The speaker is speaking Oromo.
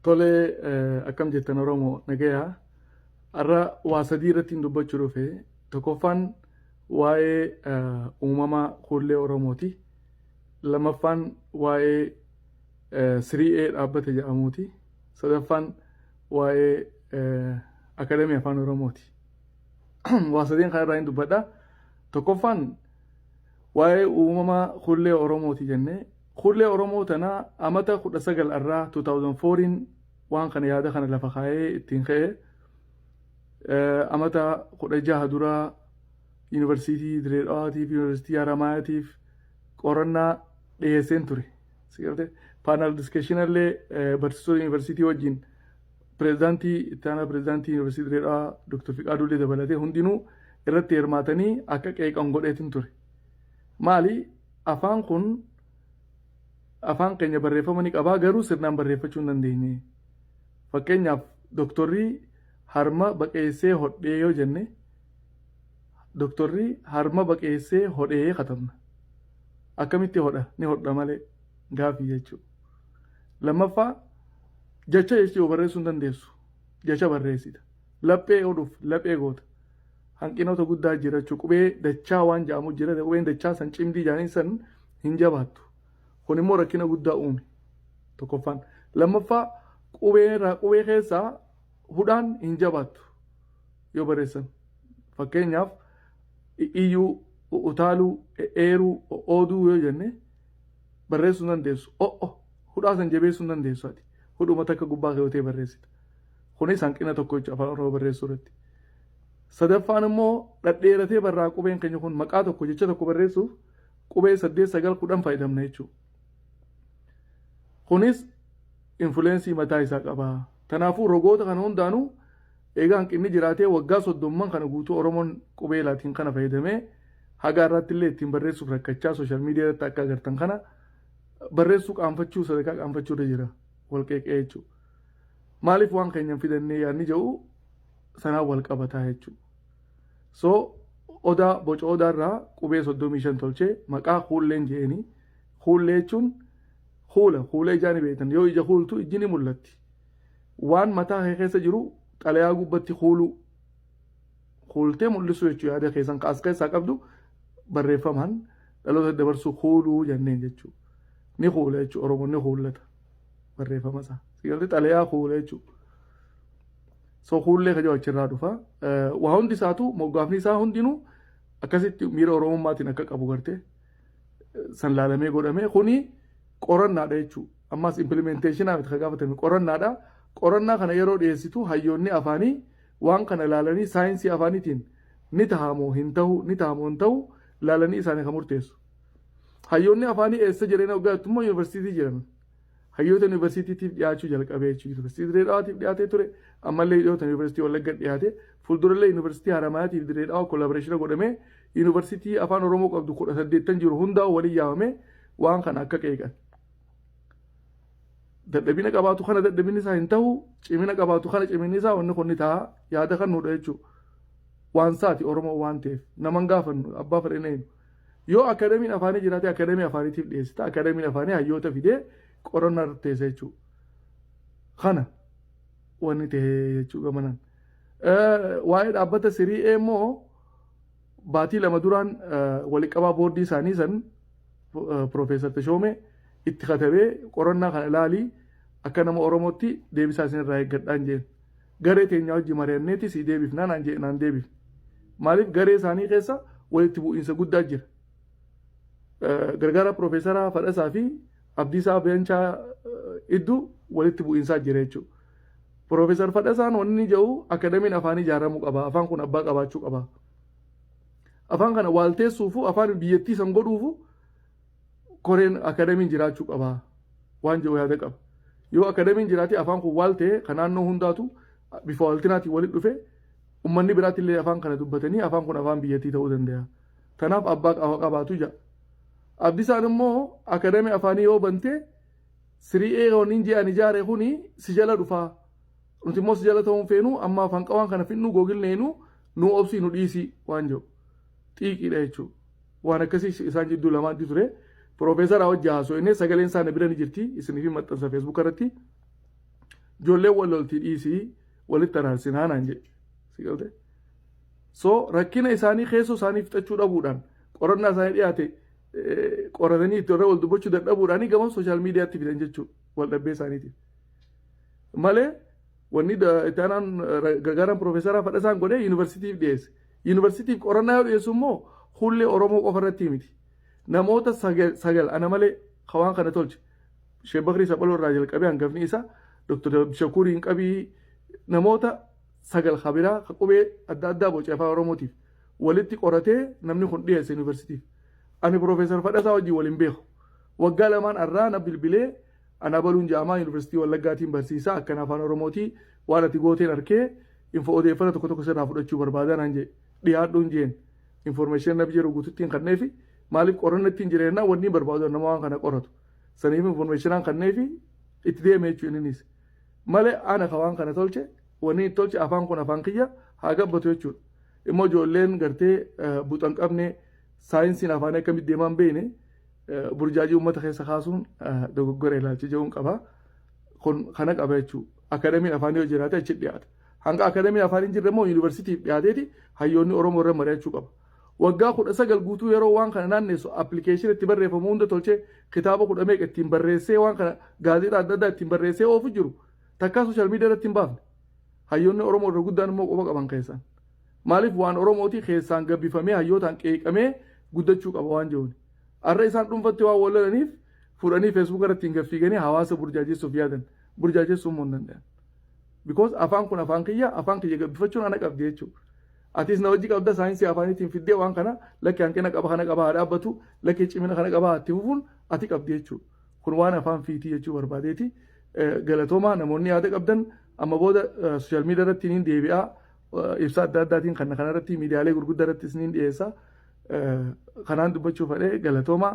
Tole akkam jettan Oromoo nagayaa har'a waa sadii irratti hin dubbachuu dhufe tokkoffaan waa'ee uumama kuullee Oromooti lammaffaan waa'ee siri'ee dhaabbata jedhamuuti sadaffaan waa'ee akadamii afaan Oromooti waa sadeen kan irraa hin dubbadha tokkoffaan waa'ee uumama kuullee Oromooti jennee Hullee Oromoo tana amata 19 irraa 2004n waan kana yaada kana lafa kaayee ittiin ka'e amata 16 dura yuunivarsiitii Diree Dhawaatiif yuunivarsiitii Haramaayaatiif qorannaa dhiyeesseen ture. Sigalte paanaal diskeshinallee barsiisota yuunivarsiitii wajjin pirezidaantii itti aanaa pirezidaantii yuunivarsiitii Diree Dhawaa Dr. Fiqaaduullee dabalatee hundinuu irratti hirmaatanii akka qeeqan godheetin ture. Maali Afaan kun afaan keenya barreeffama ni qaba garuu sirnaan barreeffachuu hin dandeenye. Fakkeenyaaf doktorri harma baqeessee hodhee yoo jenne doktorri harma baqeessee hodhee katabna. Akkamitti hodha? Ni hodha malee gaafii jechuudha. Lammaffaa jecha jechuun barreessuu hin dandeessu. Jecha barreessita. Laphee hodhuuf laphee goota. hanqinoota guddaa jirachu qubee dachaa waan ja'amu jira qubeen dachaa san cimdii jaaniin san hin jabaattu kun immoo rakkina guddaa uume tokkoffaan lammaffaa qubee irraa qubee keessaa hudhaan hin jabaattu yoo barreessan fakkeenyaaf iyyuu utaaluu eeruu ooduu yoo jenne barreessuu hin dandeessu o'o hudhaa san jabeessuu hin dandeessu ati hudhuma takka gubbaa keewwatee barreessita kunis hanqina tokko jechuudha afaan oromoo barreessuu irratti Sadaffaan immoo dhadheeratee barraa qubeen keenya kun maqaa tokko jecha tokko barreessuuf qubee saddeet sagal kudhan fayyadamna jechuudha. Kunis infuleensii mataa isaa qaba. Kanaafuu rogoota kana hundaanuu egaa hanqinni jiraatee waggaa soddomman kana guutuu Oromoon qubee laatiin kana fayyadamee haga irratti illee ittiin barreessuuf rakkachaa sooshaal miidiyaa irratti akka agartan kana barreessuu qaanfachuu sadarkaa qaanfachuu irra jira wal qeeqee jechuudha. Maaliif waan keenya hin fidannee yaadni jedhu sanaan wal qabataa jechuudha. So odaa boca odaarraa qubee 35 tolchee maqaa kuulleen jeeni. Kuullee jechuun kuula kuula ijaa ni beektan yoo ija kuultu ijji ni mul'atti. Waan mataa kee keessa jiru xalayaa gubbatti kuuluu kuultee mul'isuu jechuudha yaada keessan kaas keessaa qabdu barreeffamaan dhaloota dabarsuu kuuluu jenneen jechuudha. Ni kuula jechuudha Oromoon ni kuullata barreeffama isaa. Sigalti xalayaa kuula jechuudha. So kuullee kajoo achirraa dhufa. Waa hundi isaatu moggaafni isaa hundinuu akkasitti miira Oromummaatiin akka qabu garte san laalamee godhame kuni qorannaadha jechuudha. Ammas impilimenteeshinaa miti kan gaafatame qorannaadha. Qorannaa kana yeroo dhiyeessitu hayyoonni afaanii waan kana laalanii saayinsii afaaniitiin ni tahamoo hin tahu ni tahamoo hin tahu laalanii isaanii kan murteessu. Hayyoonni afaanii eessa jireenya waggaa immoo yuunivarsiitii jiran. hayyoota yuunivarsiitiitiif dhiyaachuu jalqabee jechuudha. Yuunivarsiitii Dirree Dhawaatiif dhiyaatee ture ammallee dhiyootan yuunivarsiitii Wallagga dhiyaate fuuldurallee yuunivarsiitii Haramayaatiif Dirree Dhawaa koolaaboreeshina godhamee yuunivarsiitii afaan Oromoo qabdu kudha saddeettan jiru hundaa waliin yaamamee waan kana akka qeeqan. Dadhabina qabaatu kana dadhabinni isaa hin ta'u cimina qabaatu kana ciminni isaa wanni kun ni ta'a yaada kan nuudha jechuudha. Waan isaati Oromoo waan ta'eef nama hin gaafannu abbaa fedhina eenyu. Yoo akademiin afaanii jiraate akademii afaaniitiif dhiyeessita. Akademiin afaanii hayyoota fidee qorannaa irratti teessa jechuu. Kana wanni tahee jechuu gamanan. Waa'ee dhaabbata sirii ee immoo baatii lama duraan waliqabaa boordii isaanii san Piroofeesar Tashoomee itti katabee qorannaa kana ilaalii akka nama Oromootti deebisaa isin irraa eeggadhaan jeen. Garee teenyaa wajji mari'anneeti sii deebifna naan jedhe naan deebifne. Maaliif garee isaanii keessa walitti bu'iinsa guddaa jira. Gargaaraa Piroofeesaraa Fadhasaa fi Abdiisaa Beenchaa idduu walitti bu'iinsaa jira jechuudha. Piroofeesar Fadhasaan wanni jedhu akadamiin afaanii ijaaramuu qaba. Afaan kun abbaa qabaachuu qaba. Afaan kana waalteessuufu afaan biyyattii san godhuufu koreen akadamiin jiraachuu qaba waan jiru yaada qaba. Yoo akadamiin jiraate afaan kun waal ta'e kan naannoo hundaatu bifa waaltinaatiin walitti dhufe ummanni biraatti illee afaan kana dubbatanii afaan kun afaan biyyattii ta'uu danda'a. Kanaaf abbaa qafa qabaatu jira. Abdisaan immoo akadamii afaanii yoo bantee siri'ee yooniin ji'aan ijaare kuni si jala dhufaa. Nuti immoo si jala ta'uun feenuu amma afaan qawaan kana finnuu googilneenu nu obsii nu dhiisii waan jiru. Xiiqiidha jechuudha. Waan akkasii isaan jidduu lamaanti ture. Piroofeesaraa wajji haasoyne sagaleen isaa na bira ni jirti isiniif hin maxxansa feesbuuka irratti. Ijoolleen wal lolti dhiisii walitti araarsinaa naan jedhe. Si galte? So rakkina isaanii keessoo isaanii fixachuu dhabuudhaan qorannaa isaanii dhiyaate eh, qoratanii itti irra wal dubbachuu dadhabuudhaanii gama sooshaal miidiyaatti fidan jechuudha wal dhabbee isaaniitiif. Malee Wanni itti aanaan gargaaraan piroofeesaraa Fadhasaan godhe yuunivarsiitiif dhiyeesse. Yuunivarsiitiif qorannaa yoo dhiyeessu immoo hullee Oromoo qofa irratti miti. Namoota sagal ana malee ka waan kana tolche. Sheek Bakrii Saphaloo irraa jalqabee hangafni isa Dr. Abdishakuuriin qabii namoota sagal ka biraa ka qubee adda addaa boce afaan Oromootiif walitti qoratee namni kun dhiyeesse yuunivarsiitiif. Ani piroofeesar Fadhasaa wajjin wal hin beeku. Waggaa lamaan arraa na bilbilee An Abaluun ja'amaa Yuuniversitii Wallaggaatiin barsiisaa akkan Afaan Oromootii waan ati gooteen arkee info odeeffana tokko tokko sirraa fudhachuu barbaadaa naan ja'e dhiyaadhuun jeen information naf jedhu guututtiin kanneefi maaliif qoranna ittiin jireennaa wanni barbaadu nama waan kana qoratu saniif informationaan kanneefi itti deeme jechuu inninis malee ana ka waan kana tolche wanni itti tolche afaan kun afaan kiyya haa gabbatu jechuudha immoo ijoolleen gartee buxan qabne saayinsiin afaanii akkamitti deemaan beekne burjaajii uummata keessa kaasuun dogoggora ilaalcha jechuun qaba. Kun kana qaba jechuudha. Akadamiin afaanii yoo jiraate achi dhiyaata. Hanga akadamiin afaan hin jirre immoo yuunivarsiitiif dhiyaateeti hayyoonni Oromoo irra mari'achuu qaba. Waggaa kudha sagal guutuu yeroo waan kana naannessu appilikeeshinii itti barreeffamu hunda tolchee kitaaba kudha meeqa ittiin barreessee waan kana gaazexaa adda addaa ittiin barreessee oofu jiru takkaa sooshaal miidiyaa irratti hin baafne. Hayyoonni Oromoo irra guddaan immoo quba qaban keessan. Maaliif waan Oromootii keessaan gabbifamee hayyootaan qeeqamee guddachuu qaba waan jiruun. Arra isaan dhuunfatti waan wallalaniif fuudhanii feesbuuka irratti hin gaffiiganii hawaasa burjaajessuuf yaadan. Burjaajessuun immoo hin danda'an. Because afaan kun afaan kiyya, afaan kiyya gabbifachuun ana qabdi jechuudha. Atis na wajji qabda saayinsii afaaniitiin fiddee waan kana lakki hanqina qaba kana qaba haa dhaabbatu, lakki cimina kana qaba haa itti fufuun ati qabdi jechuudha. Kun waan afaan fiitii jechuu barbaadeeti. Galatoomaa namoonni yaada qabdan amma booda sooshaal miidiyaa irratti niin deebi'aa. ibsa adda addaatiin kan kanarratti miidiyaalee gurguddaa irratti isiniin dhiyeessa. Kanaan dubbachuu fadhee galatoomaa.